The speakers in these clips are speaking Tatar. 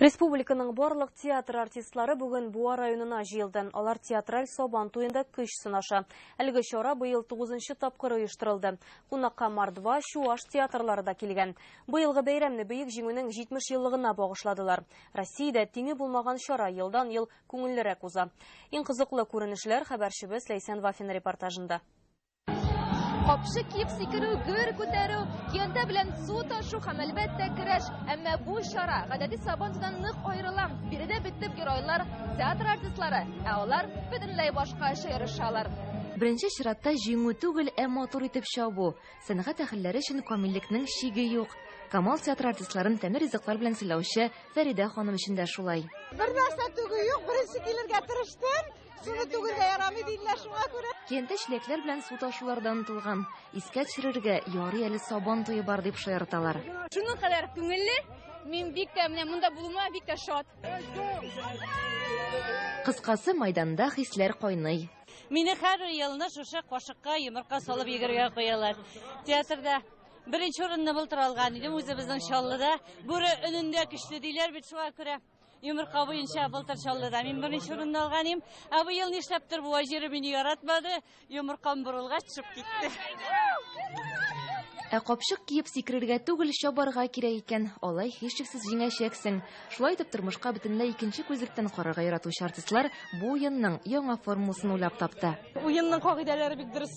Республиканың барлык театр артистлары бүген Буа районына җыелды. Алар театраль Сабан туенда көч сынаша. Әлеге чара быел 9 тапкыр оештырылды. Кунакка Мордва, Чуаш театрлары да килгән. Быелгы бәйрәмне Бөек Җиңүнең 70 еллыгына багышладылар. Россиядә тиңе булмаган чара елдан-ел күңеллерәк уза. Иң кызыклы күренешләр хәбәрчебез Ләйсән Вафина репортажында. Капчык киеп сикерү, гөр күтәрү, киянтә белән су ташу һәм, әлбәттә, көрәш. Әмма бу чара гадәти сабантуйдан нык аерыла. Биредә бит төп геройлар, театр артистлары, ә алар бөтенләй башкача ярышалар. Беренче чиратта җиңү түгел, ә матур итеп чабу. Сәнгать әһелләре өчен камиллекнең чиге юк. Камал театры артистларын тәмле ризыклар белән сыйлаучы Фәридә ханым өчен дә шулай. Бернәрсә түгү юк, беренче килергә тырыштым. Суны түгергә ярамый диләр шуңа күрә. Кенттә чиләкләр белән су ташулардан тылган. Искә төшерергә ярый әле сабан туе бар дип шаярталар. Шуның кадәр күңелле, мин бик тә менә монда булуыма бик тә шат. Кыскасы, майданда хисләр кайный. Мине һәр елны шушы кашыкка йомырка салып йөгергә куялар. Театрда беренче урынны былтыр алган идем, үзебезнең Чаллыда. Бүре өнендә көчле диләр бит шуңа күрә. Йомырка буенча былтыр Чаллыда мин беренче урынны алган идем. Ә быел нишләптер бу җире мине яратмады. Йомыркам борылгач төшеп китте. Ә капчык киеп сикерергә түгел, чабарга кирәк икән. Алай һичшиксез җиңәчәксең. Шулай итеп тормышка бөтенләй икенче күзлектән карарга яратучы артистлар бу уенның яңа формуласын уйлап тапты. Уенның кагыйдәләре бик дөрес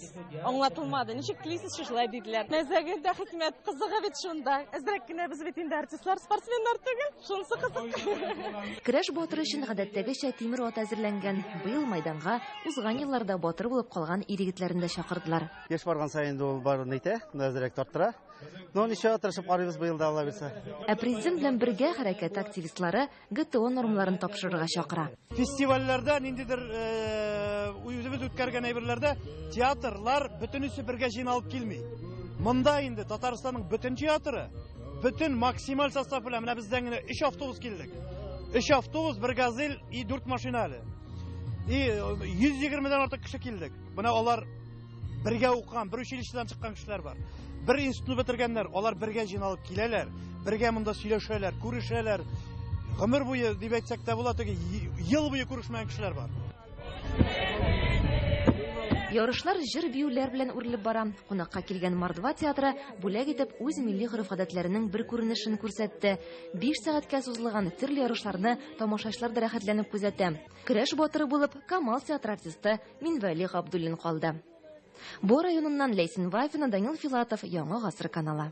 аңлатылмады. Ничек телисез шулай диделәр. Мәзәгер дә хикмәт кызыгы бит шунда. Әзрәк кенә без бит инде артистлар, спортсменнар түгел. Шунысы кызык. Керәш батыры өчен гадәттәгечә тимер ат әзерләнгән. Быел майданга узган елларда батыр булып калган ир-егетләрен дә чакырдылар. Яшь барган саен инде ул баруын әйтә, әзрәк тарттыра. Но ничего, тырышып карыйбыз быел да, Алла бирса. Ә президент белән бергә хәрәкәт активистлары ГТО нормаларын тапшырырга чакыра. Фестивальләрдә ниндидер үзебез үткәргән әйберләрдә театрлар бөтенесе бергә җыйналып килми. Монда инде Татарстанның бөтен театры, бөтен максималь состав белән менә бездән генә 3 автобус килдек. 3 автобус, бер газель и 4 машина әле. И 120 дән артык кеше килдек. Менә алар бергә укыган бер училищедан чыккан кешеләр бар бер институтны бетергәннәр алар бергә җыйналып киләләр бергә монда сөйләшәләр күрешәләр гомер буе дип әйтсәк тә була теге ел буе күрешмәгән кешеләр бар Ярышлар җыр биюләр белән үрелеп бара. Кунакка килгән Мордва театры бүләк итеп үз милли гореф-гадәтләренең бер күренешен күрсәтте. 5 сәгатькә сузылган төрле ярышларны тамашачылар да рәхәтләнеп күзәтә. Көрәш батыры булып Камал театры артисты Минвәли Габдуллин калды. Бу районыннан Ләйсән Вафина, Данил Филатов, Яңа гасыр каналы.